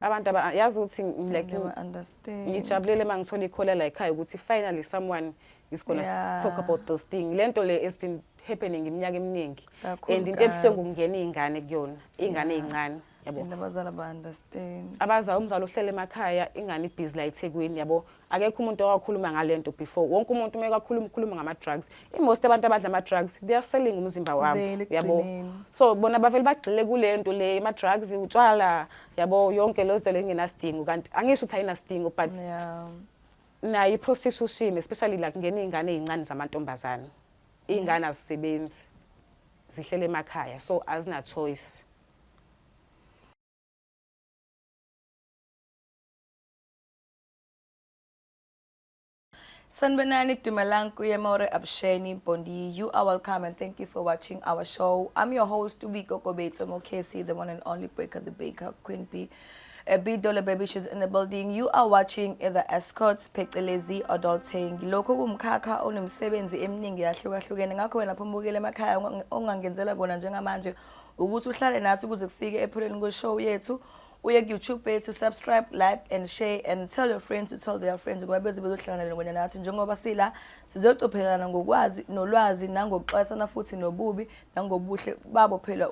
abantu aba yazi ukuthi like ngijabulele uma ngithola ikhola la ekhaya ukuthi finally someone is gonna yeah. talk about those things lento le has been happening iminyaka eminingi and into ebuhlungu kungena izingane kuyona izingane ezincane yabo abazali ba understand abaza umzali ohlele emakhaya ingane ibhizi la eThekwini yabo akekho umuntu owakhuluma ngalento before wonke umuntu uma ekakhuluma ukhuluma ngama drugs imost abantu abadla ama drugs they are selling umzimba wabo yabo so bona bavele bagxile kulento le ama drugs utshwala yabo yonke lezo zinto lengenasidingo kanti angisho ukuthi ayinasidingo but yeah. nayo iprostitution especially like ngene izingane ezincane zamantombazana izingane azisebenzi zihlele emakhaya so azina choice Sanibonani Dumalang Kuyemore Absheni Bondi. You are welcome and thank you for watching our show. I'm your host Ubiko Kobetso Mokesi, the one and only Baker the Baker, Queen Bee. Bidole Baby Shoes in the building. You are watching The Escorts phecelezi Adulting. Lokho kumkhakha onomsebenzi eminingi yahlukahlukene ngakho wena phumukile emakhaya ongangenzela kona njengamanje ukuthi uhlale nathi kuze kufike epheleni kweshow yethu uye kuyoutube yethu subscribe like and share and tell your friends to tell their friends ngoba beze bezohlangana lengwenya nathi njengoba sila sizocophelelana ngokwazi nolwazi nangokuxwayisana futhi nobubi nangobuhle babo phela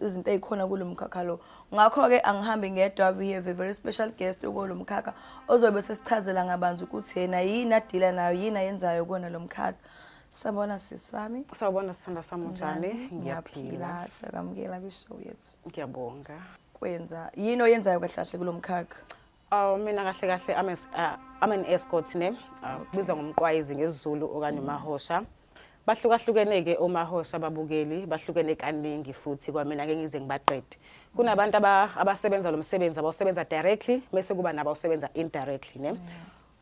izinto ezikhona kulo mkhakha lo ngakho-ke angihambi ngedwa we have a very special guest kulo mkhakha ozobe sesichazela ngabanzi ukuthi yena yini adila nayo yini ayenzayo kona lo mkhakha Sabona sisi wami. Sawubona sithanda sami unjani? Ngiyaphila. Siyakwamukela kwishow yethu. Ngiyabonga. Kwenza yini oyenzayo kahle kahle kulomkhakha? Oh mina kahle kahle I'm as, uh, I'm an escort ne. Uh, Biza ngomqwayizi ngesiZulu okanye mm. mahosha. Bahlukahlukene ke omahosha babukeli, bahlukene kaningi futhi kwamina ke ngize ngibaqede. Kunabantu abasebenza lo msebenzi abawusebenza directly bese kuba nabo awusebenza indirectly ne. Yeah.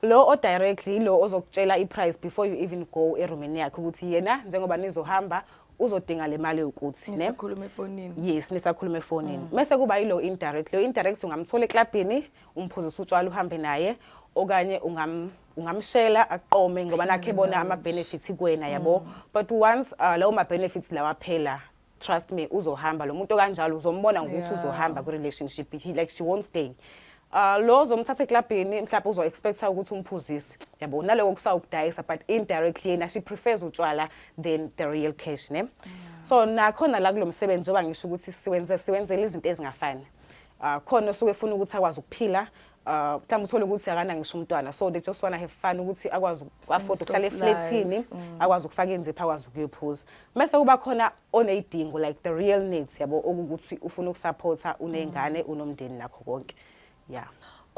lo o directly ilo ozokutshela i price before you even go eroomini yakhe ukuthi yena njengoba nizohamba uzodinga le mali yokuthi ne nisakhuluma efonini yes nisakhuluma efonini mm. mese kuba yilo indirect lo indirect ungamthola eklabhini umphuzisa utshwala uhambe naye okanye ungam ungamshela aqome ngoba nakhe bona ama benefits kuwena yabo mm. but once uh, lawo ma benefits lawa phela trust me uzohamba lo muntu kanjalo uzombona ngokuthi Yeah. uzohamba kwi-relationship he like she won't stay Uh, lo zomthatha eklabhini mhlawumbe uzo-expecta ukuthi umphuzise yabo naloko kusawukudayisa but indirectly yena she prefers utshwala than the real cash ne so nakhona la kulo msebenzi njengoba ngisho ukuthi siwenze siwenzela izinto ezingafani uh, khona osuke efuna ukuthi akwazi ukuphila uh, mhlawumbe uthole ukuthi akana ngisho umntwana so they just wanna have fun ukuthi akwazi uku-afford ukuhlala eflethini mm. akwazi ukufaka inzipho akwazi ukuyophuza mese kuba khona oney'dingo like the real needs yabo okukuthi ufuna ukusapotha uney'ngane mm. unomndeni nakho konke ya yeah.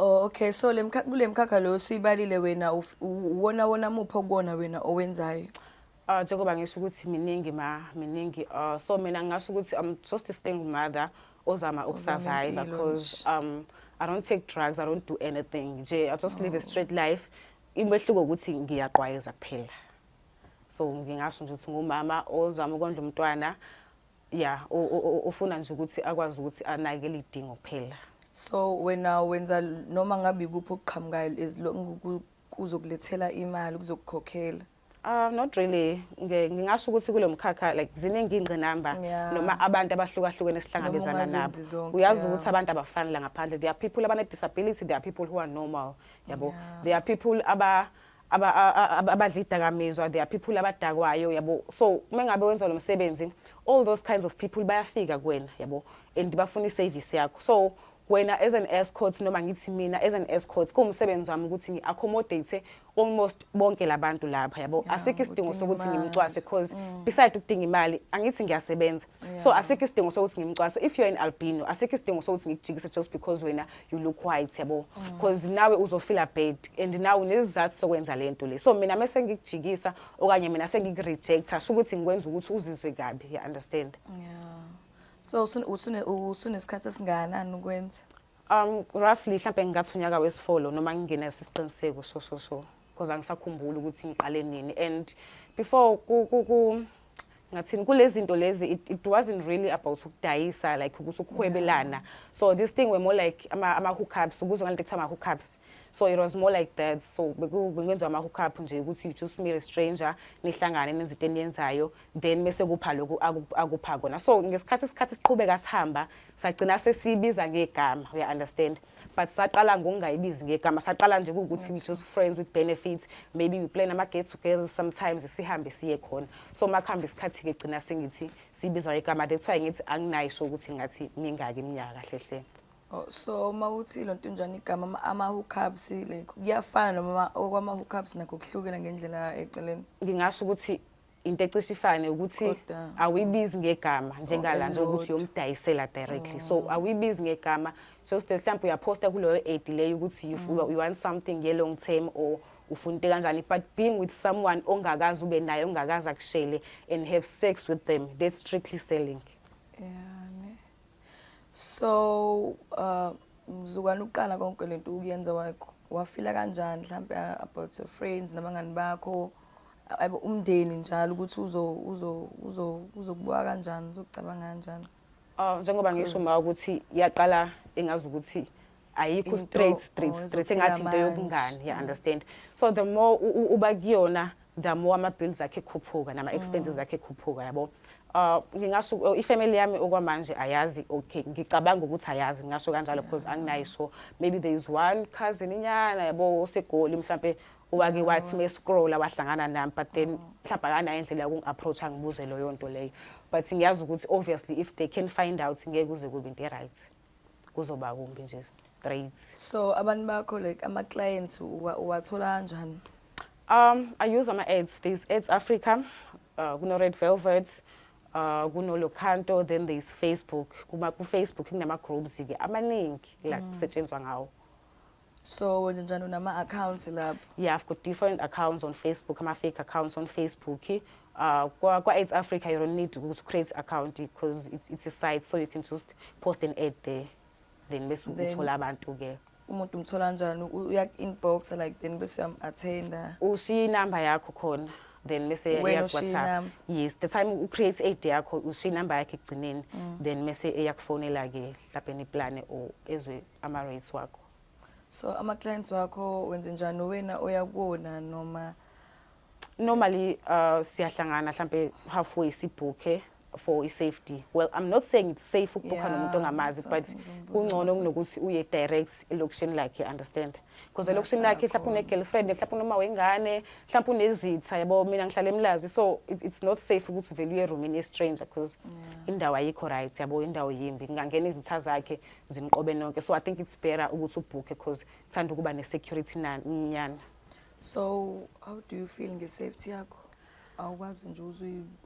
Oh okay so le mkhakha kule mkhakha lo siyibalile wena uwona wona muphi okuwona wena owenzayo Uh, njengoba ngisho ukuthi miningi ma miningi uh, so mina ngingasho ukuthi i'm just a single mother ozama ukusurvive because um i don't take drugs i don't do anything nje i just oh. live a oh. straight life imehluko ukuthi ngiyaqwayeza kuphela so ngingasho nje ukuthi ngumama ozama ukondla umntwana ya ufuna nje ukuthi akwazi ukuthi anakele idingo kuphela so wena wenza noma ngabe ikuphi okuqhamukayo as long kuzokulethela imali kuzokukhokhela Uh, not really ngingasho ukuthi kulo mkhakha like ziningi ingqinamba yeah. noma abantu abahlukahlukene esihlangabezana nabo uyazi ukuthi yeah. abantu abafani la ngaphandle there are people abane disability there are people who are normal yabo yeah. there are people aba abadla idakamizwa there are people abadakwayo yabo so uma ngabe wenza lo msebenzi all those kinds of people bayafika kuwena yabo and bafuna i-service yakho so wena as an escort noma ngithi mina as an escort kuwumsebenzi wami ukuthi ngi-accommodate almost bonke labantu lapha yabo yeah, asikho isidingo sokuthi ngimcwase because mm. beside ukudinga imali angithi ngiyasebenza yeah. so asikho isidingo sokuthi ngimcwase if you're in albino asikho isidingo sokuthi ngikujikise just because wena you look white yabo mm. because mm. nawe uzofila bad and nawe unezizathu sokwenza lento le so mina mese ngikujikisa okanye mina sengikureject asho ukuthi ngikwenza ukuthi uzizwe kabi you understand yeah so usune usunesikhathi esingakanani ukwenza Um roughly mhlambe ngingathi unyaka wesifolo noma ngingenaso isiqiniseko so so so because angisakhumbuli ukuthi ngiqale nini and before ku ku ku ngathini kulezinto lezi it, it wasn't really about ukudayisa like ukuthi ukuhwebelana yeah. so this thing were more like ama, ama hookups ukuzwa ngalento kuthiwa ama hookups so it was more like that so bekwenziwa ama hookup nje ukuthi you just meet a stranger nihlangane nenze into eniyenzayo then mese kupha lokhu akupha kona so ngesikhathi isikhathi siqhubeka sihamba sagcina sesibiza ngegama uya understand but saqala ngokungayibizi ngegama saqala nje ukuthi we just friends with benefits maybe we plan ama get together sometimes sihambe siye khona so makuhamba isikhathi ke gcina sengithi sibizwa igama that's why ngithi anginayo so ukuthi ngathi mingaki iminyaka kahle hle Oh, so uma uthi lo nto njani igama ama hookups like kuyafana noma okwama hookups nakho kuhlukile ngendlela eceleni ngingasho ukuthi into ecishe ifane ukuthi Kodwa. awuyibizi ngegama njengala nje ukuthi elilodwa. uyomdayisela directly so awuyibizi ngegama just that mhlawumbe uyaphosta kuleyo ad leyo ukuthi you, you want something ye long term or ufuna into kanjani but being with someone ongakazi ube naye ongakazi akushele and have sex with them that's strictly selling Yeah, ne. So uh mzukwana uqala konke lento ukuyenza wa- wafila kanjani mhlambe uh, about your friends nabangani bakho Aybo umndeni njalo ukuthi uzo uzo uzo uzokubuka kanjani uzokucabanga kanjani. Ah njengoba ngisho ma ukuthi yaqala engazi ukuthi ayikho straight straight oh, straight engathi into yobungani ya understand. So the more uba kuyona the more ama bills akhe khuphuka nama expenses mm. akhe khuphuka yabo. uh ngingasho oh, ifamily yami okwamanje ayazi okay ngicabanga ukuthi ayazi ngingasho kanjalo because anginayo so maybe there is one cousin inyana yabo osegoli mhlambe wake wathi me scrolla wahlangana nami but then oh. mhlawumbe akanayo indlela yokungi-approacha ngibuze loyo nto leyo but ngiyazi ukuthi obviously if they can find out ngeke kuze kube into e-right kuzoba kumbi nje straight so abantu bakho like ama-clients uwathola kanjani um i use ama-ads there's ads africa uh, kuno-red velvet uh, kuno-locanto then there's facebook kuma-facebook kunama-groups-ke amaningi la mm. kusetshenzwa ngawo so wenze njani unama-accounts lapho yeah i've got different accounts on facebook ama-fake accounts on facebook uh, kwa-aids africa you don't need to create account because it's, it's a site so you can just post an ad there then bese uthola abantu-ke umuntu umthola njani uyak-inbox like then bese uyam-attenda ushiye inamba yakho khona then mese eyakuwhatsapp yes the time ucreate aid yakho ushiye inamba yakhe ekugcineni mm. then mese eyakufonela-ke mhlawumbe niplane or ezwe ama rates wakho so ama clients wakho wenze njani wena oya kuwona noma normally uh, siyahlangana mhlambe halfway sibhukhe for i-safety well i'm not saying it's safe ukubhukha yeah, nomuntu ongamazi but kungcono kunokuthi uye direct elokishini lakhe understand because elokishini lakhe mhlawumbe une-girlfriend mhlawumbe unoma wengane mhlawumbe unezitha yabo mina ngihlale emlazi so it, it's not safe ukuthi uvele uye eroomini ye-stranger because yeah. indawo ayikho right yabo indawo yimbi ngingangena izitha zakhe ziniqobe nonke so i think it's better ukuthi ubhukhe because thanda ukuba ne-security nyana so how do you feel nge-safety yakho awukwazi nje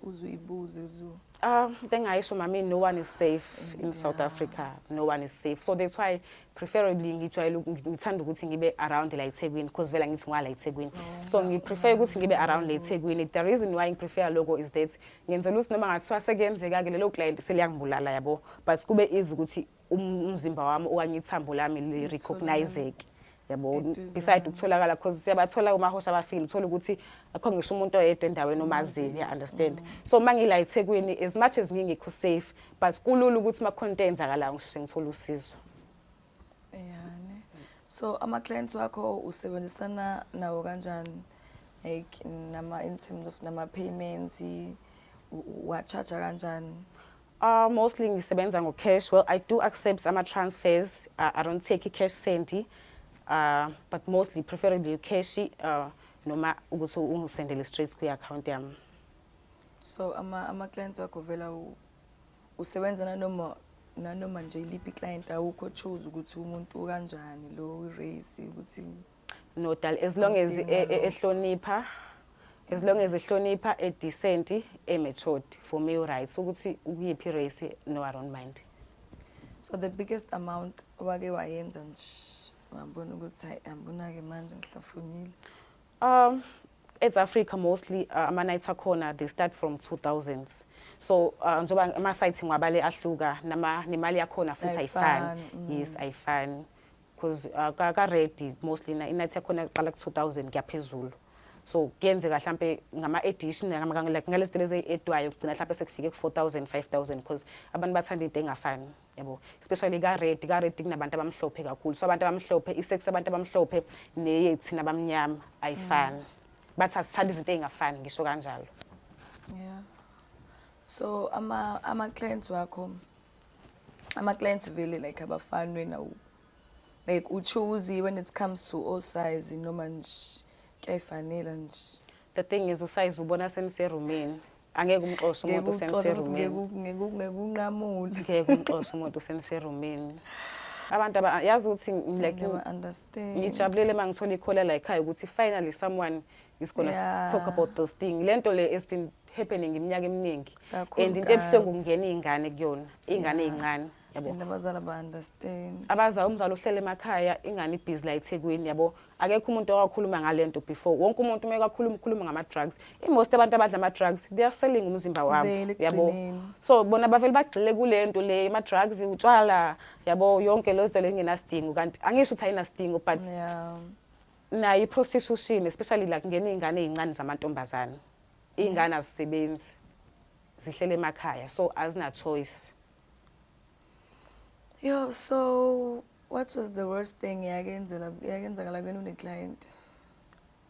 uzuyibuze uzu um into engayisho mami no one is safe in south africa no one is safe so that's why preferably ngijwayele ngithanda ukuthi ngibe around la ethekwini because vele angithi ngwala ethekwini oh, so ngiprefer ukuthi ngibe around la ethekwini the reason why ngiprefer loko is that ngenzela ukuthi noma ngathiwa sekuyenzeka-ke lelo client seliyangibulala yabo but kube easy ukuthi um-, umzimba wami okanye ithambo lami li-recognizeke yabo beside ukutholakala because siyabathola kumahosha abafile uthola ukuthi akho ngisho umuntu oyedwa endaweni omaziyo ya understand so uma ngila eThekwini as much as ngingekho safe but kulula ukuthi makhona into eyenzakalayo ngishise ngithola usizo yani so ama clients wakho usebenzisana nawo kanjani like nama in terms of nama payments wa charge kanjani Uh, mostly ngisebenza ngo cash well i do accept ama transfers uh, i don't take cash sendi uh, but mostly preferably cash uh, noma ukuthi ungisendele straight kwi account yami so ama ama clients wakho vela usebenza nanoma nanoma nje iliphi client awukho choose ukuthi umuntu kanjani lo race ukuthi no dal as long as e- e- ehlonipha as long as ehlonipha e decent e matured for me u right ukuthi ukuyiphi race no i don't mind so the biggest amount wake wayenza nje wabona ukuthi hayi angibona-ke manje ngihlafunile Um, it's Africa mostly uh, ama nights akhona they start from 2000s so uh, njoba ama sites ngwabale ahluka nama nemali yakhona futhi ayifani mm. yes ayifani because uh, ka, ka ready mostly na inathi yakhona iqala ku 2000 kuyaphezulu so kuyenzeka mhlambe ngama edition ngama like ngalesitele eziedwayo kugcina mhlambe sekufike ku 4000 5000 because abantu bathanda into engafani yabo especially ka red ka red kunabantu abamhlophe kakhulu so abantu abamhlophe isex abantu abamhlophe neyethina abamnyama ayifani mm. bathi asithanda izinto ezingafani ngisho kanjalo yeah so ama ama clients wakho ama clients vele like abafani wena like u choose when it comes to all size noma nje kyayifanela nje the thing is usize ubona senise roomini angeke umxoshe umuntu usemserumini ngekunqamula ngeke umxoshe umuntu usemserumini abantu abayazi ukuthi like ngijabulele uma ngithola ikhola la ekhaya ukuthi finally someone is gonna yeah. talk about those things lento le has been happening iminyaka eminingi and into ebuhlungu kungena iy'ngane kuyona iy'ngane ey'ncane yeah. yabo And abazali aba-understand. abaza umzali uhlele emakhaya ingane ibhizi la ethekwini yabo akekho umuntu owakhuluma ngale nto before wonke umuntu uma ekakhuluma ukhuluma ngama-drugs imost abantu abadla ama-drugs they are selling umzimba wabo Vele yabo ekugcineni. so bona bavele bagxile kule nto le ama-drugs utshwala yabo yonke leyo zinto le ingenasidingo kanti angisho ukuthi ayinasidingo but Yeah. nayo i-prostitution especially la kungena iy'ngane ey'ncane zamantombazane iy'ngane azisebenzi zihlele emakhaya so azina-choice Yo, so what was the worst thing yakenzela yakenzakala kwenu ne client?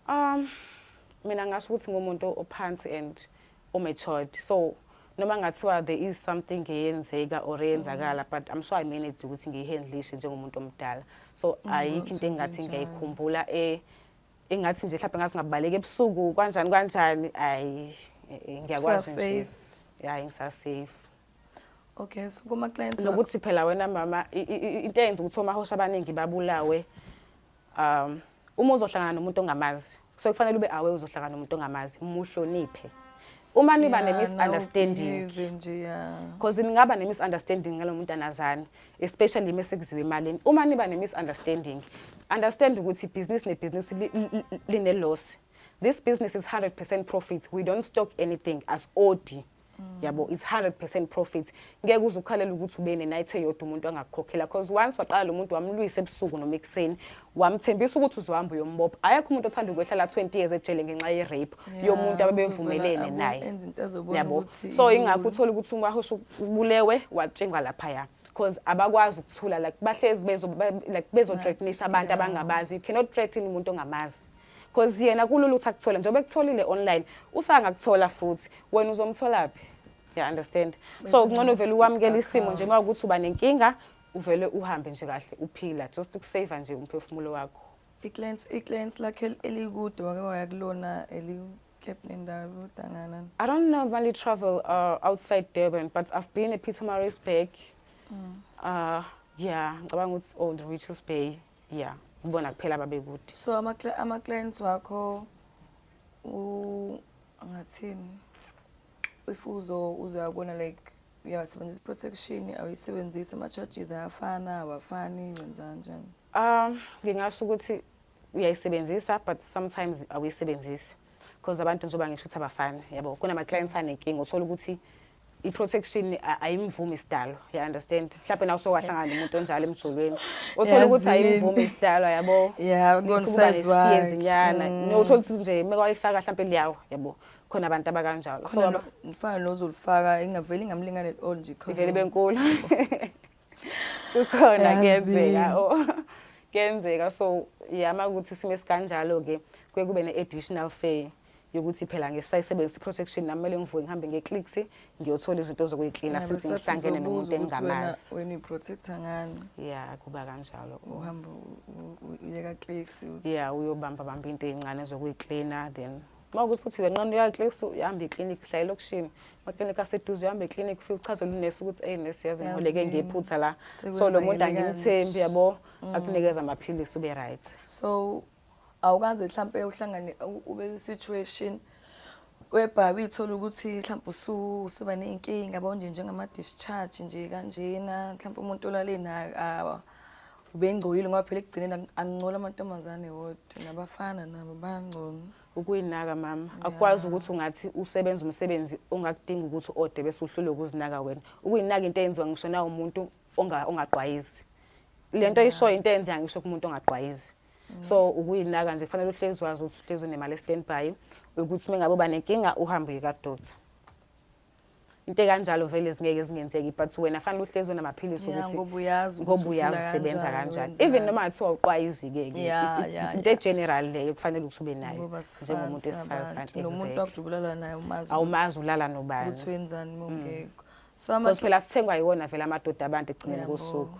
Um mina ngasho ukuthi ngumuntu ophansi and omatured. So noma ngathiwa there is something eyenzeka or eyenzakala mm. but I'm sure I managed ukuthi ngiyihandlishe njengomuntu omdala. So mm, ayikho into engathi ngiyayikhumbula eh engathi nje mhlawumbe ngathi ngabaleka ebusuku kanjani kanjani ayi eh, eh, ngiyakwazi nje. Hayi ngisasafe. okay so kuma clients nokuthi phela wena mama into eyenza ukuthi omahosha abaningi babulawe um uma uzohlangana nomuntu ongamazi so kufanele ube awe uzohlangana nomuntu ongamazi muhloniphe uma niba ne misunderstanding because ningaba ne misunderstanding ngalo muntu anazani especially uma sekuziwe imali uma niba ne misunderstanding understand ukuthi business ne business line loss this business is 100% profit we don't stock anything as odi yabo it's 100% profit ngeke uze ukhalela ukuthi ube ne-night eyodwa umuntu angakukhokhela because once waqala lo muntu wamlwisa ebusuku noma ekuseni wamthembisa ukuthi uzohamba uyombopha ayekho umuntu othanda ukwehlala 20 years ejele ngenxa ye-rape yomuntu ababevumelene naye yabo so ingakho uthole ukuthi umahosha ubulewe watshingwa laphaya because abakwazi ukuthula like bahlezi bezo like bezo threatenisha abantu abangabazi you cannot threaten umuntu ongamazi cause yena kulula ukuthi akuthole njengoba ekutholile online usangakuthola futhi wena uzomtholaphi ya understand so kungcono vele ukwamukela isimo nje uma ukuthi uba nenkinga uvele uhambe nje kahle uphila just ukusave nje umphefumulo wakho iclants iclants lakhe elikude wake waya kulona eli I don't normally travel uh, outside Durban, but I've been at Pietermaritzburg. Mm. Uh, yeah, ngicabanga ukuthi Old Richards Bay. ya kubona kuphela babekude so ama-clients wakho angathini if uzo uzayabona like uyawasebenzisa i-protection awuyisebenzisi ama-charges ayafana awafani wenza njani um ngingasho ukuthi uyayisebenzisa but sometimes awuyisebenzisi because abantu njengoba ngisho ukuthi abafani yabo kunama-clients anenkinga uthola ukuthi i-protection ayimvumi isidalo ya understand mhlawumbe nawe sowahlangana nomuntu onjalo emjolweni othola ukuthi ayimvumi isidalo yabo yeah kunosizwazinyana mm. nothola ukuthi nje uma kwayifaka mhlawumbe liyawo yabo khona abantu abakanjalo so umfana lozolifaka ingaveli ngamlingane all nje khona ivele benkulu kukhona kuyenzeka oh. kuyenzeka so yama ukuthi sime sikanjalo ke kuye kube ne-additional fee yokuthi phela ngisayisebenzisa i-protection nami kumele ngivuke ngihambe nge-clicks ngiyothola izinto zokuyiklina Yeah, since besathi ngihlangene uzobuza nomuntu ukuthi wena- engingamazi wena uyiprotecta ngani ya kuba kanjalo uhamba u- u- u- uyeka clicks u- ya uyobamba bamba into ey'ncane zokuyiklina then uma ukuthi futhi uyanqana uyaclix uyahamba eklinikhi uhlala elokishini amaklinikhi aseduze uhamba eklinikhi ufike uchazele unesi ukuthi eyi nesi yazi Yazi, ngoleke ngephutha la so lo muntu sekwenzakele angimthembi kanje. Mm. yabo akunikeza amaphilisi ube right so awukaze mhlampe uhlangane ube situation webhabi ithola ukuthi mhlawumbe usuba ney'nkinga yabo nje njengama-discharge nje kanjena mhlawumbe umuntu olale naye ubengcolile ngoba phela ekugcineni angingcola amantombazane wodwa nabafana nabo bangcono ukuyinaka mama akwazi ukuthi ungathi usebenza umsebenzi ongakudinga ukuthi ode bese uhlule ukuzinaka wena ukuyinaka into eyenziwa ngisho na umuntu ongaqwayizi le nto ishoyo into eyenziwa ngisho kumuntu ongaqwayizi so ukuyinaka nje kufanele uhlezi wazi ukuthi uhlezi unemali e-standby ukuthi uma ngabe uba nenkinga uhambe uye kadokta into ekanjalo vele zingeke zingenzeki but wena fanele uhlezi unamaphilisi ukuthi ngoba uyazi ngoba uyazi usebenza kanjani even noma kuthiwa uqwayizike-ke into egeneral leyo kufanele ukuthi ube nayo njengomuntu wesifazane nomuntu wakujubulala naye umazi awumazi ulala nobani ukuthi wenzani mongekho mm. so phela sithengwa yiwona vele amadoda abantu ekugcineni kosuku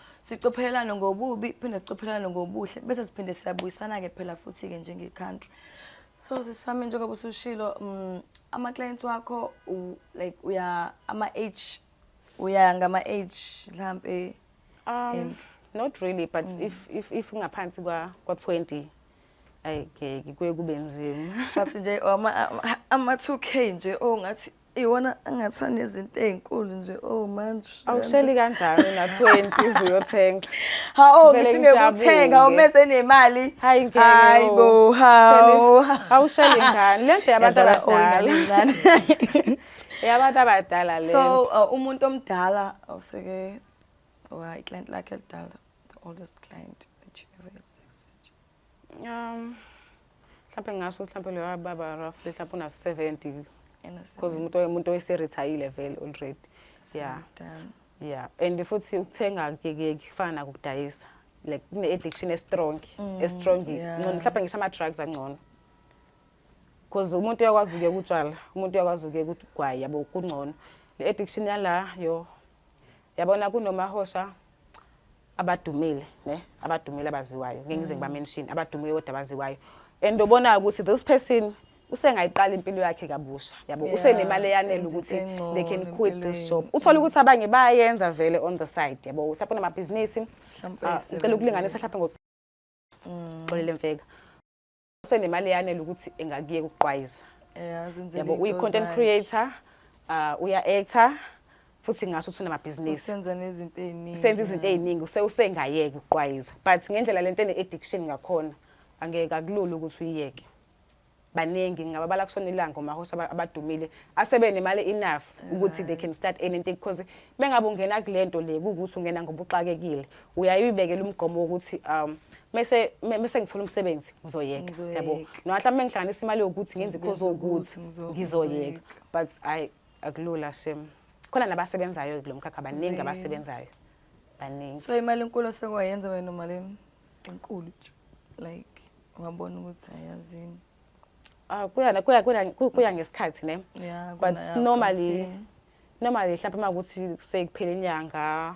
sicophelelane ngobubi phinde sicophelelane ngobuhle bese siphinde siyabuyisana-ke phela futhi-ke njenge-country so sisami njengoba usushilo um mm, ama-clients wakho like uya ama-age uya ngama-age mhlampe um, and not really but mm. if, if, if ngaphansi kwa-twenty ayike kuye kube nzima but nje ama-two k nje ongathi oh, iwona angathi anezinto ey'nkulu nje oh manje awusheli kanjani na-twenty uze uyothenga hawu ngisho ngekuthenga umese nemali hayi hayi bo hawu awusheli ngani le nto yabantu abadala yabantu abadala le so uh, umuntu omdala awuseke wa iclient lakhe elidala the oldest client that you ever had sex with Um mhlawumbe ngingasho ukuthi mhlawumbe loyo baba roughly mhlawumbe una 70 because umuntu umuntu oyiserithayile vele already yeah yeah and futhi ukuthenga kuyekeki kufana nakudayisa like kune addiction estrong mm, estrong ngcono mhlawumbe ngisho ama drugs angcono because umuntu uyakwazi ukuye kutshala umuntu uyakwazi ukuye kugwayi yabo kungcono le addiction yala yo yabona kunomahosha abadumile ne abadumile abaziwayo ngeke ngize ngiba mention abadumile kodwa abaziwayo and obonayo ukuthi this person usengayiqala impilo yakhe kabusha yabo Yeah, usenemali eyanele enza ukuthi into engcono they can quit this empilweni. job uthole ukuthi abanye bayayenza vele on the side yabo mhlawumbe unamabhizinisi Mhlawumbe ah, ngicela ukulinganisa mhlawumbe ngo xolele mfeka usenemali eyanele ukuthi engakuyeka ukuqwayiza yabo uyi-content creator uh, uya-actor futhi ngasho ukuthi unamabhizinisi senza nezinto eziningi senza izinto eziningi usengayeki ukuqwayiza but ngendlela lento ene-addiction ngakhona angeke akulula ukuthi uyiyeke baningi ngingababala kusona ilanga omahosi abadumile asebenemali enough ukuthi they can start anything because mengabe ungena kule nto le kuwukuthi ungena ngoba uxakekile uyaye uyibekele umgomo wokuthi um mese mese ngithola umsebenzi ngizoyeka yabo noma mhlawumbe ngihlanganisa imali yokuthi ngenze ikhozi ukuthi ngizoyeka but i akulula shem khona nabasebenzayo kulo mkhakha baningi abasebenzayo baningi so imali enkulu osekwayenza wena malini enkulu nje like wabona ukuthi ayazini ah kuyana kuya kuya ngesikhathi ne but normally normally mhlawumbe uma ukuthi sekuphele inyanga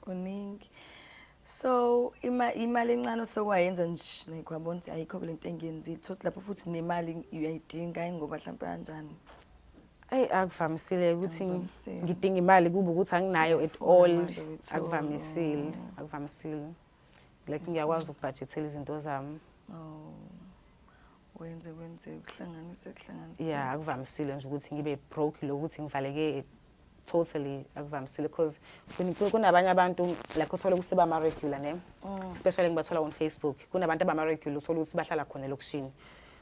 kuningi so ima imali encane sokwayenza nje like wabona ukuthi ayikho kule nto engiyenzile thothi lapho futhi nemali uyayidinga ingoba mhlawumpe kanjani eyi akuvamisile ukuthi Akuvamisile. ngidinga imali kube ukuthi anginayo at Ngiyayifuna all manje ukuthi, akuvamisile oh. akuvamisile like ngiyakwazi ukubhajethela izinto zami oh wenze wenze kuhlanganise kuhlanganise yeah akuvamisile nje ukuthi ngibe broke lokuthi ngivaleke totally akuvamisile because kunabanye abantu like uthole ukuthi bama-regular ne mm. especially ngibathola on facebook kunabantu abama-regular uthole ukuthi bahlala khona elokishini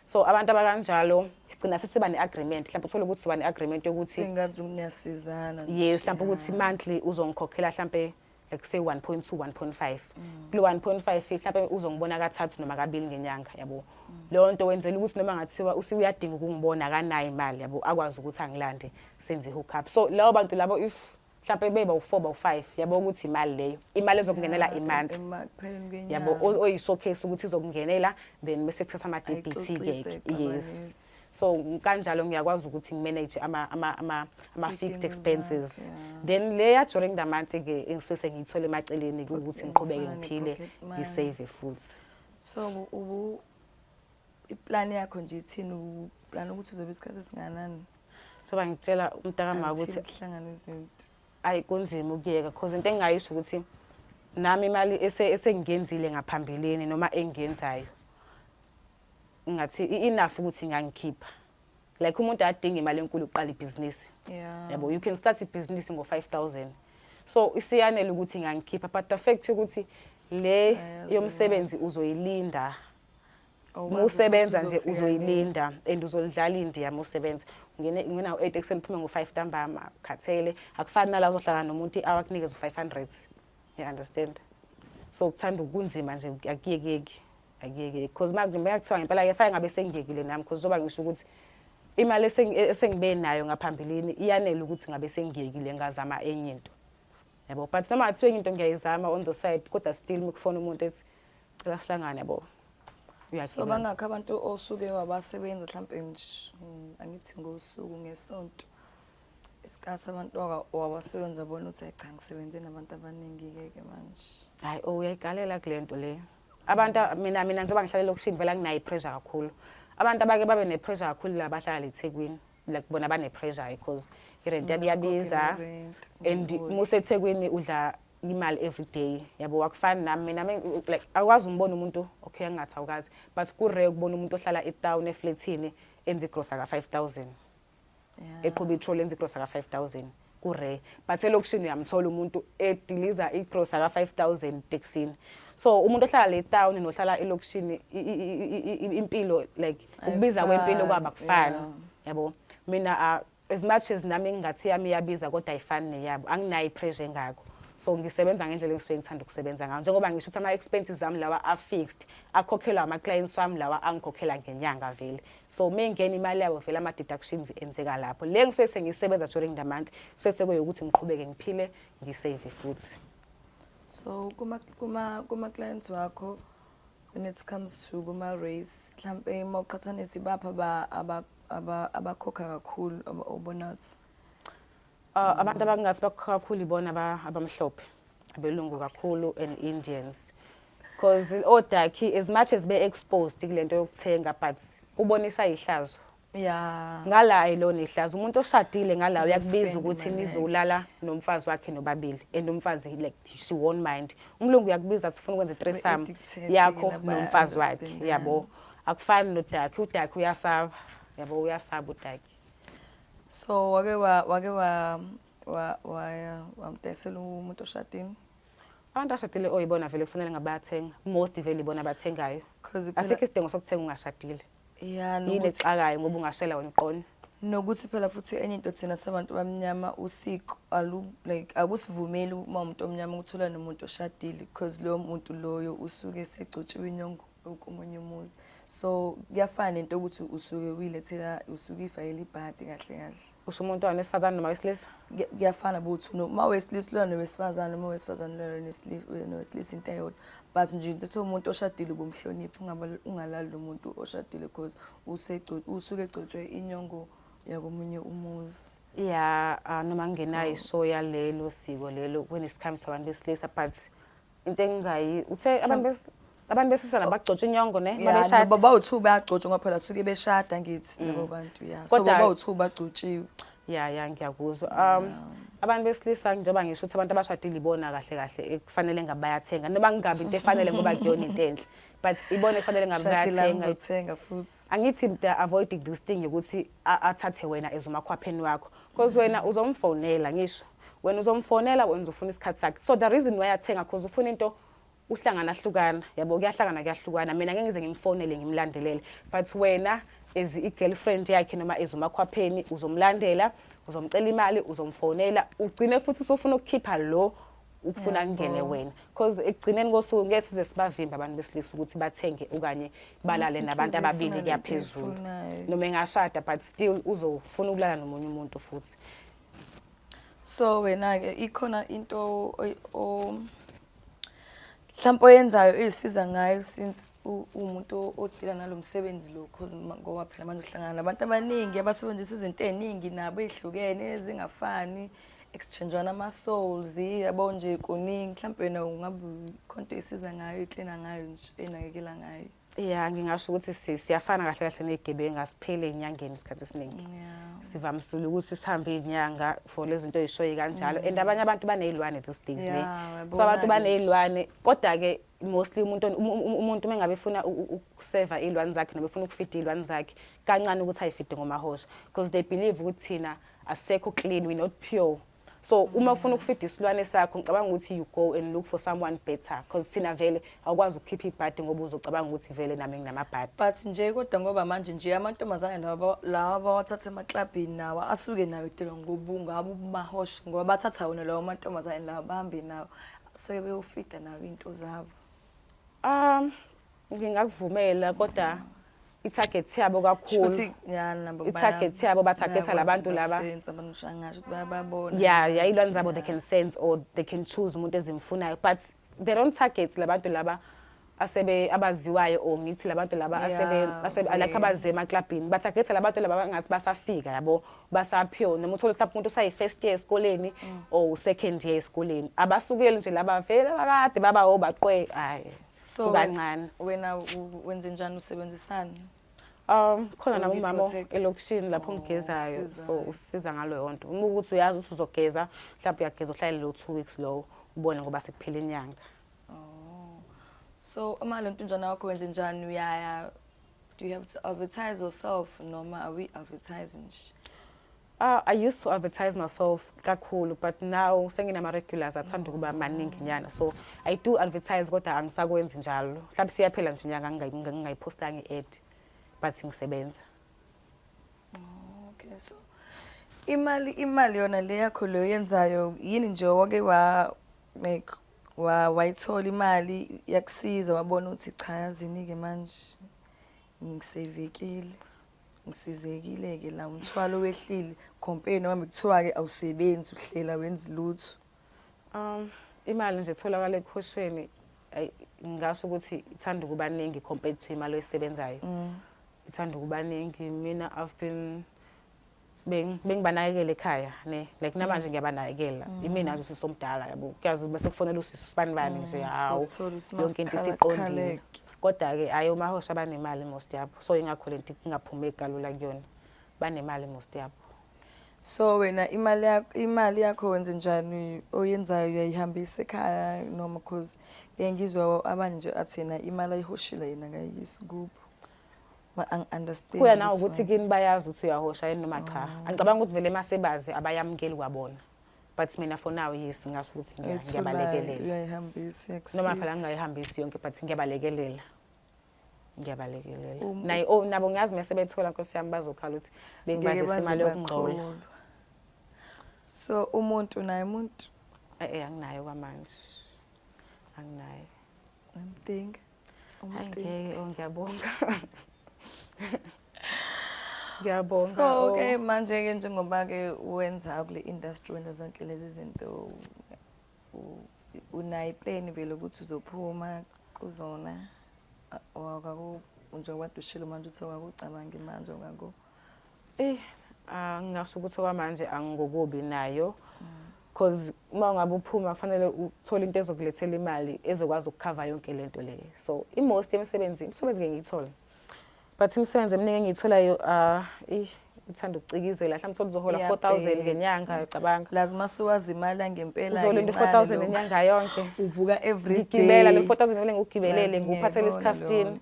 so abantu abakanjalo sigcina sesiba ne-agreement mhlawumbe uthole ukuthi siba ne-agreement yokuthi singathi niyasizana yes mhlawumbe ukuthi monthly uzongikhokhela mhlawumbe ekuse 1.2 1.5 kulo 1.5 mhlawumbe uzongibona kathathu noma kabili ngenyanga yabo leyo nto wenzela ukuthi noma ngathiwa usi uyadinga ukungibona akanayo imali yabo akwazi ukuthi angilande senze hook up so labo bantu labo if mhlawumbe beba u4 ba u5 yabo ukuthi imali leyo imali ezokungenela imonth yabo oyishowcase ukuthi izokungenela then bese kuthatha ama DBT ke yes so kanjalo ngiyakwazi ukuthi ngimanage ama ama ama ama fixed expenses yeah. then le ya during the month ke engisuke sengiyithole emaceleni ukuthi ngiqhubeke ngiphile ngisave futhi so ubu iplan yakho nje ithini uplan ukuthi uzobe isikhathi esinganani soba ngitshela umntakama ukuthi kuhlangana izinto ayi kunzima ukuyeka because into engingayisho ukuthi nami imali esengiyenzile ngaphambilini noma engiyenzayo ngathi i-enough ukuthi ngangikhipha like umuntu adinga imali enkulu ukuqala ibhizinisi yabo you can start ibhizinisi ngo-five thousand so isiyanele ukuthi ngangikhipha but the fact ukuthi le yomsebenzi uzoyilinda oh, musebenza nje uzoyilinda and uzolidlala indiya musebenza ngene ngena u8 ekuseni phuma ngo5 ntambama khathele akufani nala uzohlala nomuntu i-hour akunikeza u500 you understand so kuthanda ukunzima nje akuyekeki akuyeke because makumbeka kuthiwa ngempela ke fake ngabe sengiyekile nami because zoba ngisho ukuthi imali esengibe nayo ngaphambilini iyanele ukuthi ngabe sengiyekile ngazama enye into yabo but noma kuthiwa enye into ngiyayizama on the side kodwa still mikufona umuntu ethi cela sihlangane yabo so bangakho abantu osuke wabasebenza mhlawumpe mm, angithi ngosuku ngesonto isikhathi abantu wabasebenza bona uthi ayi cha ngisebenze nabantu abaningi-ke ke manje hhayi o oh, uyayikalela kule nto leyo abantu mina mina ngizoba ngihlale lokushini vela nginayo ipressure kakhulu abantu abake babe nepressure kakhulu la bahlala eThekwini like bona bane pressure because irent yabo iyabiza and museThekwini udla imali every day yabo wakufana nami mina like akwazi umbona umuntu okay angathi awukazi but ku rare ukubona umuntu ohlala etown eflatini enze igrosa ka 5000 eqhuba itrol enza igrosa ka-five thousand kure but elokishini uyamthola umuntu ediliza igrosa ka-five thousand teksini so umuntu ohlala le town nohlala elokishini impilo like ukubiza kwempilo kwaba kufani yabo mina ah, as much as nami ngingathi yami iyabiza kodwa ayifani neyabo anginayo ipressure engako so ngisebenza ngendlela engisuke ngithanda ukusebenza ngayo njengoba ngisho ukuthi ama-expenses ami lawa a-fixed akhokhelwa ama-clients wami lawa angikhokhela ngenyanga vele so uma ingena imali yabo vele ama-deductions enzeka lapho le ngisuke sengisebenza during the month kusuke sekuyokuthi ngiqhubeke ngiphile ngisave futhi so kuma-clients kuma, kuma wakho when it comes to kuma-race mhlawumpe uma uqhathanisa ibapha abakhokha kakhulu obona ukuthi Uh, abantu abangathi bakho kakhulu ibona abamhlophe abelungu kakhulu and indians because odakhi as much as be-exposed kule nto yokuthenga but kubonisa ihlazo ya ngala ayilona ihlazo umuntu oshadile ngala uyakubiza ukuthi nizolala nomfazi wakhe nobabili and umfazi like she won't mind umlungu uyakubiza ukuthi ufuna ukwenza itresam yakho nomfazi wakhe yabo akufani nodakhi udakhi uyasaba yabo uyasaba udakhi so wake wa wake wa wa wa wamdayisela umuntu oshadini abantu ashadile oyibona vele kufanele ngabathenga most vele ibona abathengayo because iphela asikho isidingo sokuthenga ungashadile yeah yini nokuthi exakayo ngoba ungashela wena uqona nokuthi phela futhi enye into thina sabantu bamnyama usiko alu like akusivumeli uma umuntu omnyama ukuthula nomuntu oshadile because loyo muntu loyo usuke segcotshiwe inyongo omunye umuzi so kuyafana nento ukuthi usuke uyilethela usuke ifayela ibhadi kahle kahle usho umuntu wani wesifazane noma wesilisa kuyafana buthi uma wesilisa lona nowesifazane uma wesifazane lona nowesilisa into eyodwa but nje ngithi umuntu oshadile ubumhloniphi ungalali lo muntu oshadile because usuke egcotshwe inyongo yakomunye umuzi ya ah, noma ngenayo isoya lelo siko lelo kunesikhathi sabantu besilisa but into engingayi uthe abantu bes- abantu besilisa nabagcotsha inyongo ne Yeah, babeshada no, baba uthu bayagcotshwa ngoba phela suke beshada ngithi labo bantu ya so Kodwa- baba uthu bagcotshiwe ya ya ngiyakuzwa um abantu besilisa njengoba ngisho ukuthi abantu abashadile ibona kahle kahle ekufanele ngabe bayathenga noma kungabi into efanele ngoba kuyona into enhle but ibona ekufanele ngabe shadile bayathenga ngizothenga futhi angithi mda avoiding this thing yokuthi a- athathe wena ezomakhwapheni wakho because wena uzomfonela ngisho wena uzomfonela wenza ufuna isikhathi sakhe so the reason why athenga cause ufuna into uhlangana ahlukana yabo kuyahlangana kuyahlukana mina ngeke ngize ngimfonele ngimlandelele but wena as i-girlfriend yakhe noma as umakhwapheni uzomlandela uzomcela imali uzomfonela ugcine futhi usufuna ukukhipha lo ukufuna kungene wena because ekugcineni kosuku ngeke size sibavimbe abantu besilisa ukuthi bathenge okanye balale mm, nabantu ababili kuyaphezulu noma engashada but still uzofuna ukulala nomunye umuntu futhi so wena ke ikhona into mhlawumbe oyenzayo izisiza ngayo since umuntu odila nalomsebenzi lo cause ngoba phela manje uhlangana nabantu abaningi abasebenzisa izinto eziningi nabo ezihlukene ezingafani exchangeana ama souls yabo nje kuningi mhlawumbe wena ungabe khonto isiza ngayo iklina ngayo nje enakekela ngayo ya ngingasho ukuthi si- siyafana kahle kahle ney'gebengu asipheli ey'nyangeni isikhathi esiningi sivamisile ukuthi sihambe iy'nyanga for lezi zinto ey'shoyi kanjalo and abanye abantu baney'lwane these days ne Mm. Yeah, uyabona so abantu ke. baney'lwane kodwa-ke mostly umuntu on- um- um- umuntu uma ngabe efuna u- u- ukuseva iy'lwane zakhe noma efuna ukufida iy'lwane zakhe kancane ukuthi ayifide ngomahosha because they believe ukuthi thina asekho clean we not pure so uma ufuna ukufida isilwane sakho ngicabanga ukuthi you go and look for someone better because thina vele awukwazi ukukhipha ibhadi ngoba uzocabanga ukuthi vele nami nginamabhadi but nje kodwa ngoba manje nje amantombazane lawa lawa bawathatha emaklabhini nawa asuke nayo tela ngobungaba ubumahosha ngoba bathatha wona lawo amantombazane lawa bahambe nawo so beyofida nawo into zabo Um ngingakuvumela kodwa i-target yabo kakhulu Shuthi ya nabo baya- i-target yabo batargeta bayakwazi labantu laba ukubasensa, bangisho angasho ukuthi bayababona. yeah yeah ilwane zabo they can sense or they can choose umuntu ezimfunayo but they don't target labantu laba asebe abaziwayo or ngithi labantu laba asebe Yeah, asebe like okay. abaziwa emaclubini batargeta labantu laba bangathi basafika yabo basaphiwe noma uthole mhlawumbe umuntu usayi-first year esikoleni mm. or second year esikoleni abasukeli nje laba vele bakade baba obaqwe hayi so kancane wena wenze njani usebenzisana um khona nami umama elokishini lapho oh, ngigezayo so usiza ngalo yonto uma ukuthi uyazi ukuthi uzogeza mhlawumbe uyageza uhlale lo two weeks lowo ubone ngoba sekuphela inyanga oh. so uma lo ntunjana wakho wenze njani uyaya Do you have to advertise yourself noma are we advertising? Uh, I used to advertise myself kakhulu but now senginama regulars athanda ukuba maningi nyana so I do advertise kodwa angisakwenzi njalo mhlawumbe siyaphela nje nyanga ngingayipostanga i-ad but ngisebenza oh, okay so imali imali yona le yakho leyo yenzayo yini nje wake wa like wa wayithola imali yakusiza wabona ukuthi cha yazini-ke manje ngisevekile ngisizekile-ke la umthwalo wehlile compare noma kuthiwa-ke awusebenzi uhlela wenzi lutho um imali nje etholakala ekhoshweni ayi ngasho ukuthi ithanda ukuba ningi compared to imali oyisebenzayo mm. ithanda ukuba ningi mina i've been bengibanakekela ekhaya ne like namanje mm. ngiyabanakekela mm. imina nje usisi omdala yabo kuyazi bese kufonela usisi usibani bani nje mm, hawu yonke into isiqondile kodwa ke ayo mahosha banemali most yabo so ingakho lento ingaphumeki kalula kuyona banemali most yabo so wena imali yakho imali yakho wenze njani oyenzayo uyayihambisa ekhaya noma because ngiyangizwa abanje athena imali ayihoshile yena ngayisi kubo Ma ang understand. Kuya na ukuthi kini bayazi ukuthi uyahosha yini noma cha. Mm. Angicabanga ukuthi vele masebazi abayamukeli kwabona. But mina for now yes ngasho ukuthi ngiyabalekelela. Uyayihambisa yakusisa. Noma phela ngingayihambisi yonke but ngiyabalekelela. Ngiyabalekelela. Um, Nayi oh nabo ngiyazi mase bethola nkosi yami bazokhala ukuthi bengibadisa imali yokungcola. So umuntu naye umuntu eh, eh anginayo kwamanje. Anginayo. I'm thinking Ngeke oh, ngiyabonga. Ngiyabonga. So oh. ke manje ke njengoba ke wenza kule industry wenza zonke lezi zinto unayi plan vele ukuthi uzophuma kuzona wakaku njengoba dushile manje uthi wakakucabangi manje ngaku Eh ah, ngingasho ukuthi okwamanje angikokubi nayo because uma ungabe uphuma kufanele uthole into ezokulethela imali ezokwazi ukukhava yonke le nto le so imost yemisebenzi imisebenzi ke ngiyithole but imisebenzi eminingi engiyitholayo uh, ithanda ukucikizela mhlawumbe uthole uzohola 4000 ngenyanga cabanga lazi masuwazi imali angempela uzohola into 4000 ngenyanga yonke uvuka every day ngigibela le 4000 ngivele ngigibelele ngikuphathele isikhafutini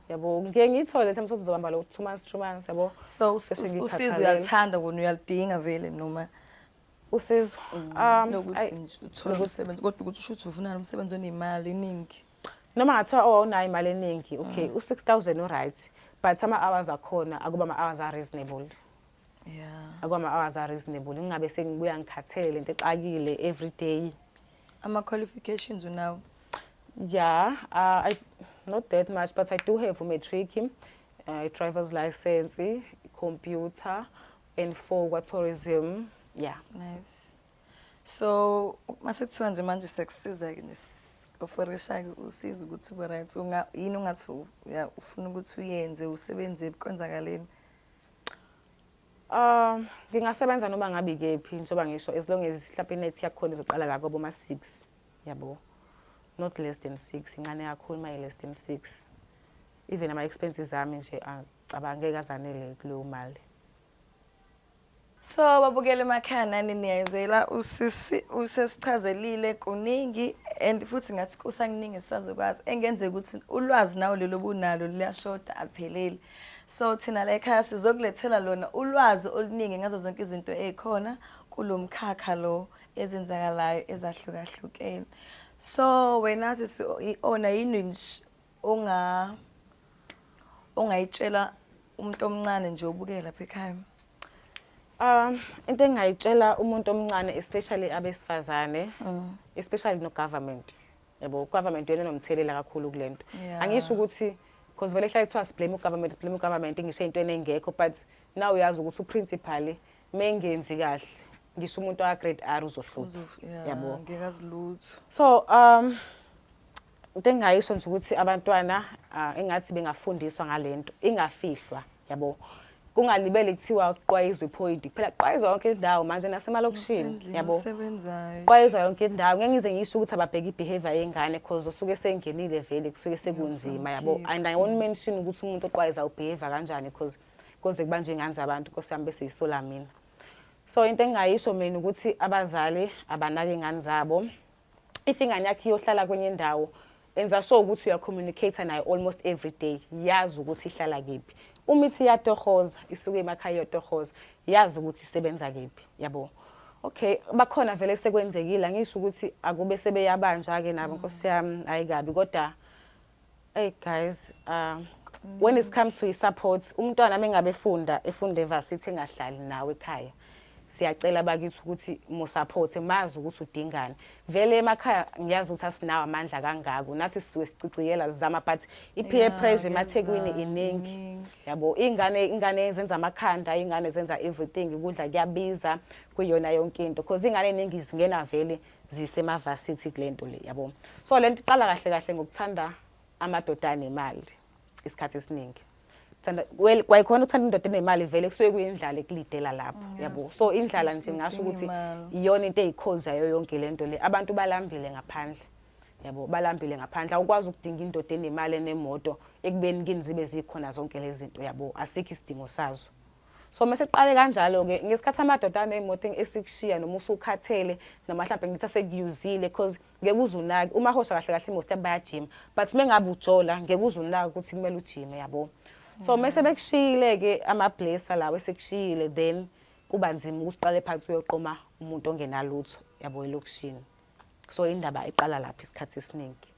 yabo ngike ngiyithole mhlawumbe sothi uzobamba lo two months three months yabo so us- Bese us- ngiyithatha usizo lena. uyalithanda kona uyalidinga vele noma usizo um ai, lokuthi nje uthole umsebenzi kodwa ukuthi usho ukuthi uvuna umsebenzi onemali eningi noma ngathiwa oh awunayo imali eningi okay u-6000 uright but ama-hours akhona akuba ama-hours a-reasonable yeah akwama hours are reasonable ngingabe sengibuya ngikhathele lento exakile every day ama qualifications unawo yeah uh, i not that much but i do have a matric uh, a driver's license computer and for kwa tourism yeah That's nice so mase kuthiwa nje manje sekusiza ke oferisha ke usiza ukuthi ube right unga yini ungathi uya- ufuna ukuthi uyenze usebenze konzakaleni Ah, ngingasebenza noma ngabi kephi ngizoba ngisho as long as mhlawumbe inethi yakhona izoqala la kwabo ma 6 yabo not less than 6 incane kakhulu maye less than 6 even ama expenses ami nje acabange kazanele kuleyo mali So babukele emakhana niniyayizela usisi usesichazelile kuningi and futhi ngathi kusakuningi sisazokwazi engenzeka ukuthi ulwazi nawo lelo bunalo liyashoda akupheleli So thina la ekhaya sizokulethela lona ulwazi oluningi ngazo zonke izinto ezikhona kulomkhakha lo ezenzakalayo ezahlukahlukene. So wena sisi ona yini nje onga ongayitshela umuntu omncane nje obukela lapha ekhaya? Um into engayitshela umuntu omncane especially abesifazane mm. especially no government. yabo government yena nomthelela kakhulu kulento yeah. angisho ukuthi because vele hlale kuthiwa siblame ugovernment blame ugovernment ngisho ey'ntweni engekho but now uyazi ukuthi uprincipal mengenzi kahle ngisho umuntu aka-grade r uzohlupha yabo ngekazilutho so um into engingayisho nje ukuthi abantwana uh, engathi bengafundiswa ngale nto ingafihlwa yabo kungalibele kuthiwa kuqwayizwa iphoyinti kuphela kuqwayizwa yonke indawo manje nasemalokishini yabo kuqwayizwa yonke indawo ngeke ngize ngisho ukuthi ababheke i-behavior yengane because usuke sengenile vele kusuke sekunzima yabo and i won't mention ukuthi umuntu oqwayiza ubehavior kanjani because koze kubanjwe ingane zabantu nkosi yami bese yisola mina so into engingayisho mina ukuthi abazali abanake ingane zabo if ingane yakhe iyohlala kwenye indawo enza sure ukuthi uyacommunicate nayo almost every day yazi ukuthi ihlala kephi uma ithi iyatohoza isuke emakhaya iyotohoza yazi ukuthi isebenza kephi yabo okay bakhona vele sekwenzekile angisho ukuthi akube sebeyabanjwa-ke nabo nkosi yami hhayi kabi kodwa Hey guys, uh, when it comes to support, umntwana mengabe funda, efunda evarsity engahlali nawe ekhaya. Siyacela bakithi ukuthi mu support mazi ukuthi udingani. Vele emakhaya ngiyazi ukuthi asinawo amandla kangako. Nathi siwe siciciyela zama but ipeer yeah, pressure emathekwini iningi. Yabo ingane ingane zenza amakhanda, ingane zenza everything, ukudla kuyabiza kuyona yonke into. Because ingane iningi zingena vele. zisemavasithi kulento le yabo so lento iqala kahle kahle ngokuthanda amadoda anemali isikhathi esiningi thanda well kwayikhona uthanda indoda enemali vele kusuke kuyindlala ekulidela lapho mm, yabo so indlala nje ngasho ukuthi iyona into eyikhozi yayo yonke lento le abantu balambile ngaphandle yabo balambile ngaphandle awukwazi ukudinga indoda enemali enemoto ekubeni kini zibe zikhona zonke lezi zinto yabo asikho isidingo sazo so mase kuqale kanjalo ke ngesikhathi amadoda anemoto esikushiya noma usukhathele noma mhlawumbe ngithi asekuyuzile because ngeke uzunaki uma hosha kahle kahle most bayajima but mengabe ujola ngeke uzunaki ukuthi kumele ujime yabo so mm. mase bekushiyile ke ama blesser lawo esekushiyile then kuba nzima ukuthi uqale phansi uyoqoma umuntu ongenalutho yabo elokushini so indaba iqala lapha isikhathi esiningi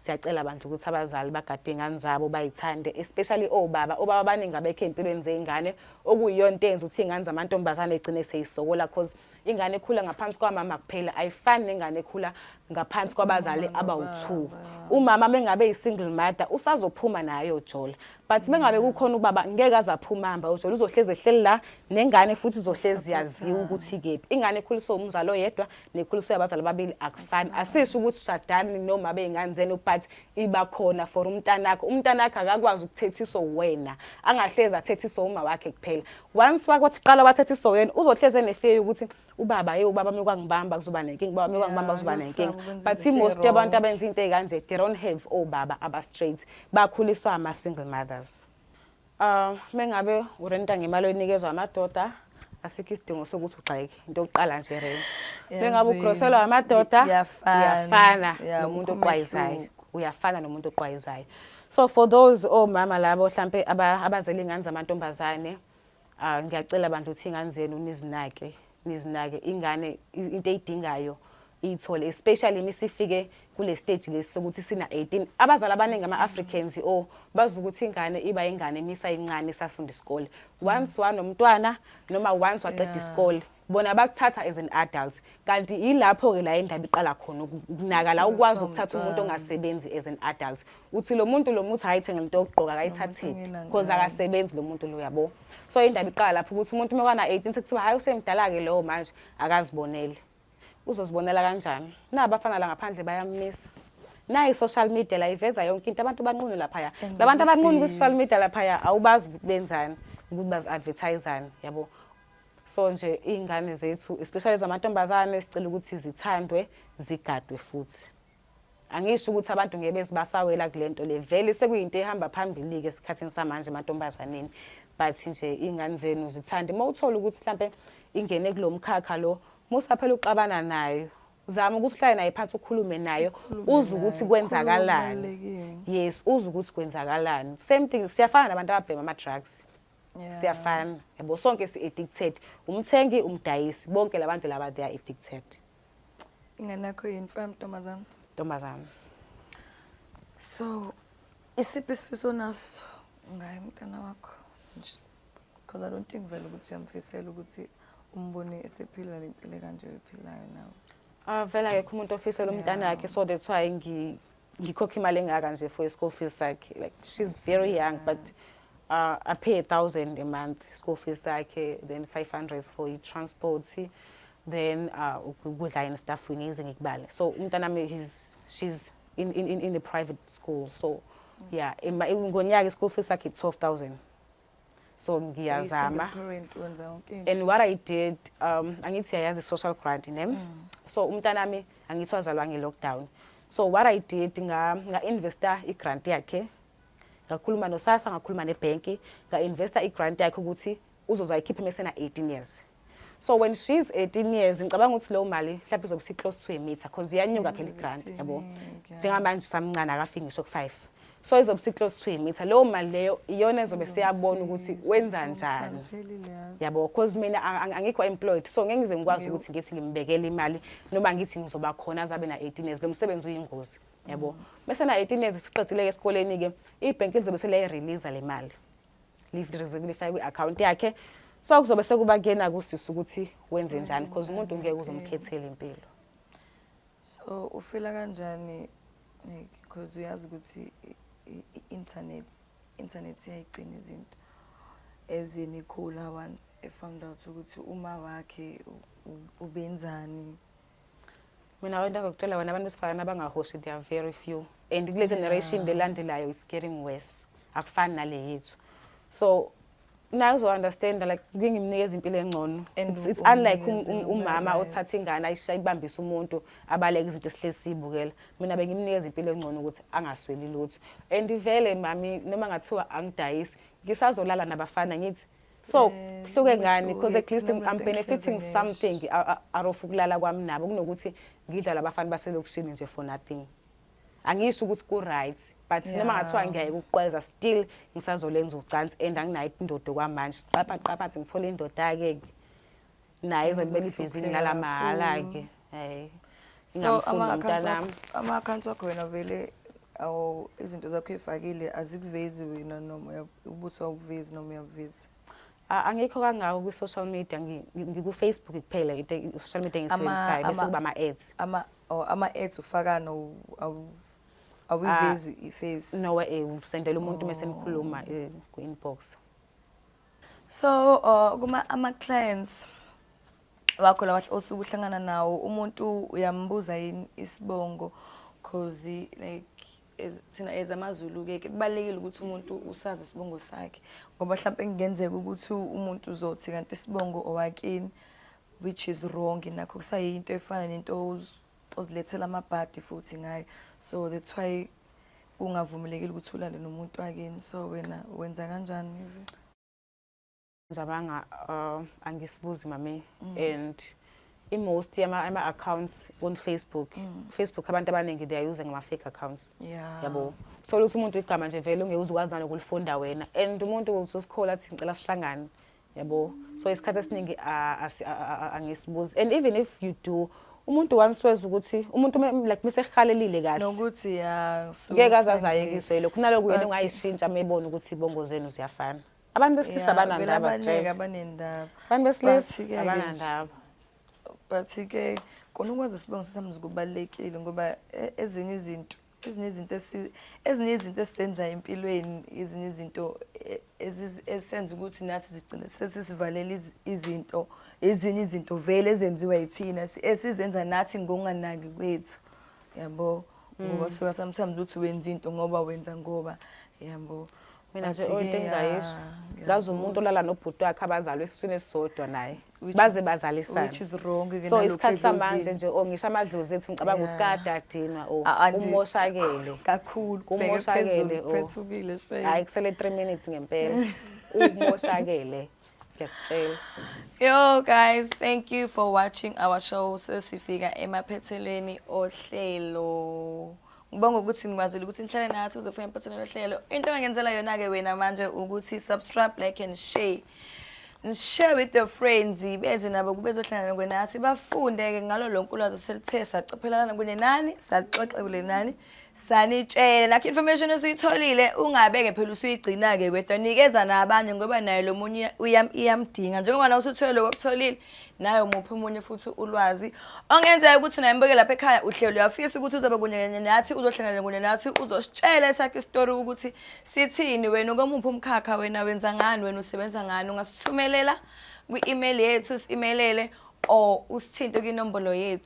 siyacela abantu ukuthi abazali bagade ingane zabo bayithande especially obaba obaba abaningi abekho empilweni zeingane okuyiyona into enza ukuthi ingane zamantombazane igcine seyisokola cause ingane ekhula ngaphansi kwamama kuphela ayifani nengane ekhula ngaphansi kwabazali abawu-two umama mengabe yi-single mother usazophuma nayo jola but mengabe kukhona ubaba ngeke aze aphumamba ujola uzohlezi ehleli la nengane futhi izohlezi yaziwa ukuthi kephi ingane ekhuliswe umzali oyedwa nekhuliso yabazali ababili akufani asisho ukuthi shadani noma bey'ngane zenu but iba khona for umntanakho umntanakho akakwazi ukuthethiso wena angahlezi athethiso uma wakhe kuphela once wakwathi qala wathethiso wena uzohlezi enefeyi ukuthi ubaba ye ubaba mekwangibamba kuzoba nenkinga ubaba mekwangibamba kuzoba nenkinga but most yabantu abenza into ey'kanje they don't have obaba abastraight bakhuliswa ama-single mothers Ah, mengabe urenta ngemali oyinikezwa amadoda asikho isidingo sokuthi ugxeke into yokuqala nje rent. Mengabe ugroselwa amadoda uyafana nomuntu oqwayizayo. Uyafana nomuntu oqwayizayo. So for those omama oh, labo mhlambe abazela ingane zamantombazane ah ngiyacela bandla ukuthi ingane zenu nizinake nizinake ingane into eyidingayo iyithole especially misifike kule stage lesi sokuthi sina 18 abazali abaningi ama Africans o bazi ukuthi ingane iba ingane misa incane safunda isikole once wanomntwana noma once waqeda isikole bona bakuthatha as an adult kanti yilapho ke la indaba iqala khona ukunaka la ukwazi ukuthatha umuntu ongasebenzi as an adult uthi lo muntu lo muthi ayithenge into yokugqoka akayithathile because akasebenzi lo muntu lo yabo so indaba iqala lapho ukuthi umuntu uma kana 18 sekuthiwa hayi usemdala ke lowo manje akazibonele uzozibonela kanjani nabafana la ngaphandle bayamisa nayi social media la iveza yonke into abantu banqunu laphaya labantu abanqunu ku social media laphaya awubazi ukuthi benzani ukuthi bazi advertisani yabo so nje iy'ngane zethu especially zamantombazane sicela ukuthi zithandwe zigadwe futhi Angisho ukuthi abantu ngeke bezibasawela kulento le. Vele sekuyinto ehamba phambili ke esikhathini samanje mantombazaneni. But nje ingane zenu zithande uma uthola ukuthi mhlambe ingene kulomkhakha lo musa phela uxabana nayo. Zama ukuthi uhlale naye phansi ukhulume nayo uze ukuthi kwenzakalani. Yes, uze ukuthi kwenzakalani. Same thing siyafana nabantu ababhema ama drugs. Yeah. Siyafana. Yabo sonke si addicted. Umthengi, umdayisi, bonke labantu laba they are addicted. Ingane yakho yini fam ntombazana? Ntombazana. So isiphi isifiso naso ngaye mntana wakho? Because I don't think vele ukuthi uyamfisela ukuthi umbone esephila le mpilo kanje oyiphilayo nawe. Ah vele akekho umuntu ofisela umntana wakhe so that's why ngi ngikhokha imali engaka nje for school fees sakhe like she's very young but uh, I pay a thousand a month school fees sakhe then 500 for transport then uh, ukudla yena staff ngize ngikubale so umntana mi he's she's in, in, in, in the private school so yeah ngonyaka school fees sakhe 12000 so ngiyazama and what i did um angithi yayazi social grant ne mm. so umntana mi angithi wazalwa nge lockdown so what i did nga nga investor i grant yakhe ngakhuluma nosasa ngakhuluma ne bank nga investor i grant yakhe ukuthi uzozayikhipha mesena 18 years so when she's 18 years ngicabanga ukuthi leyo mali mhlawumbe izobe si-close to a meter because iyanyuka phela i-grant yabo njengamanje usamncane akafiki ngisho ku-five so izobe si-close to a meter leyo mali leyo iyona ezobe siyabona ukuthi wenza njani yabo because mina angikho employed so ngeke ngize ngikwazi ukuthi ngithi ngimbekele imali noma ngithi ngizoba khona azabe na-18 years lo msebenzi uyingozi yabo mm. bese na-18 years siqedile-ke esikoleni-ke ibhenki lizobe seliyayireleasa le mali lifake kwi-account yakhe so kuzobe sekuba kuyena kusisi ukuthi wenze njani because umuntu ngeke uzomkhethela impilo so ufila kanjani like because uyazi ukuthi i-internet internet iyayigcina izinto as in ikhula once efound out ukuthi uma wakhe ubenzani mina abantu azokutshela wena abantu besifazane abangahoshi they are very few and kule generation lelandelayo it's getting worse akufani nale yethu so naye uzo-understanda like bengimnikeza impilo engcono it's unlike um, um, umama othatha ingane ayishaye ibambise umuntu abaleke izinto esihlezi siyibukela mina bengimnikeza impilo engcono ukuthi angasweli lutho and vele mami noma ngathiwa angidayisi ngisazolala nabafana ngithi so eh, kuhluke ngani because at least I'm benefiting something out of ukulala kwami nabo kunokuthi ngidlala abafana baselokushini nje for nothing angiyisho ukuthi ku right but noma ngathiwa ngiyayeka ukuqweza still ngisazolenza ucansi and anginayo indoda kwamanje siqapha qapha ngithole indoda ke naye ezobela ibhizinisi ngala mahhala-ke hayi ingamfundi mntanami ama-accounts wakho wena vele awu izinto zakho ey'fakile azikuvezi wena noma ubuso awukuvezi noma uyakuvezi angikho kangako kwi-social media ngikufacebook kuphela into social media engisebenzisayo bese kuba ama-ads oh, ama-ads ufakana awuyivezi ah, i-face nowe eh, usendela umuntu uma senikhuluma eh, ku-inbox so uh, kuma ama-clients wakho lawa osuke uhlangana nawo umuntu uyambuza yini isibongo cause like thina as amazulu-ke ke kubalulekile ukuthi umuntu usazi isibongo sakhe ngoba mhlawumpe kungenzeka ukuthi umuntu uzothi kanti isibongo owakini which is wrong nakho kusayinto efana nento uzilethela amabhadi futhi ngaye so that's why ungavumelekile ukuthi ulale nomuntu wakini so wena wenza kanjani ivi njabanga uh, angisibuzi mami mm. and i-most yama-accounts on facebook mm. facebook abantu abaningi they are using ama-fake accounts yeah. yabo thola ukuthi umuntu igama nje vele ungeke uze ukwazi nalokulifunda wena and umuntu uzosikhola athi ngicela sihlangane yabo so isikhathi esiningi angisibuzi and even if you do umuntu once weza ukuthi umuntu like mesehalelile kahle nokuthi ya ngeke azazayekiswe lokho naloko yena ungayishintsha mebona ukuthi ibongo zenu ziyafana abantu besilisa banandaba abaningi abanendaba abantu besilisa abanandaba but ke kona ukwazi isibongo sesamzi kubalekile ngoba e, ezinye izinto ezinye izinto ezinye izinto esizenza empilweni ezinye izinto e, ezisenza ukuthi nathi zigcine sesisivalela izinto ezinye izinto vele ezenziwa yithina esizenza nathi ngokunganaki kwethu yabo ngoba mm. suka sometimes uthi wenza into ngoba wenza ngoba yabo mina nje oyinto engingayisho ngazi umuntu olala nobhuti wakhe abazalwa esiswini esisodwa naye baze bazalisane which is wrong ke so isikhathi samanje nje o ngisho amadlozi ethu ngicabanga ukuthi kada adinwa o umoshakele kakhulu umoshakele o phethukile shame hayi kusele 3 minutes ngempela umoshakele ngiyakutshela yo guys thank you for watching our show sesifika emaphethelweni ohlelo ngibonga ukuthi nikwazile ukuthi nihlale nathi uzofika emphethweni lohlelo into engangenzela yona-ke wena manje ukuthi subscribe like and share share with your friends beze nabo kubezohlangana kwenathi bafunde-ke ngalo lonke ulwazi oselithe sacophelana kunye nani saxoxe kule nani sanitshela nakho information esuyitholile ungabeke phela usuyigcina-ke wedwa nikeza nabanye ngoba naye lo munye iyamdinga njengoba nawe usuthole lokho okutholile naye umuphi omunye futhi ulwazi ongenzeka ukuthi naye mbuke lapha ekhaya uhlelo uyafisa ukuthi uzobe kunye nathi uzohlangana kunye nathi uzositshela esakhe isitori ukuthi Sithini wena ukomuphi umkhakha wena wenza ngani wena usebenza ngani ungasithumelela kwi-email yethu simelele or usithinte kwinombolo yethu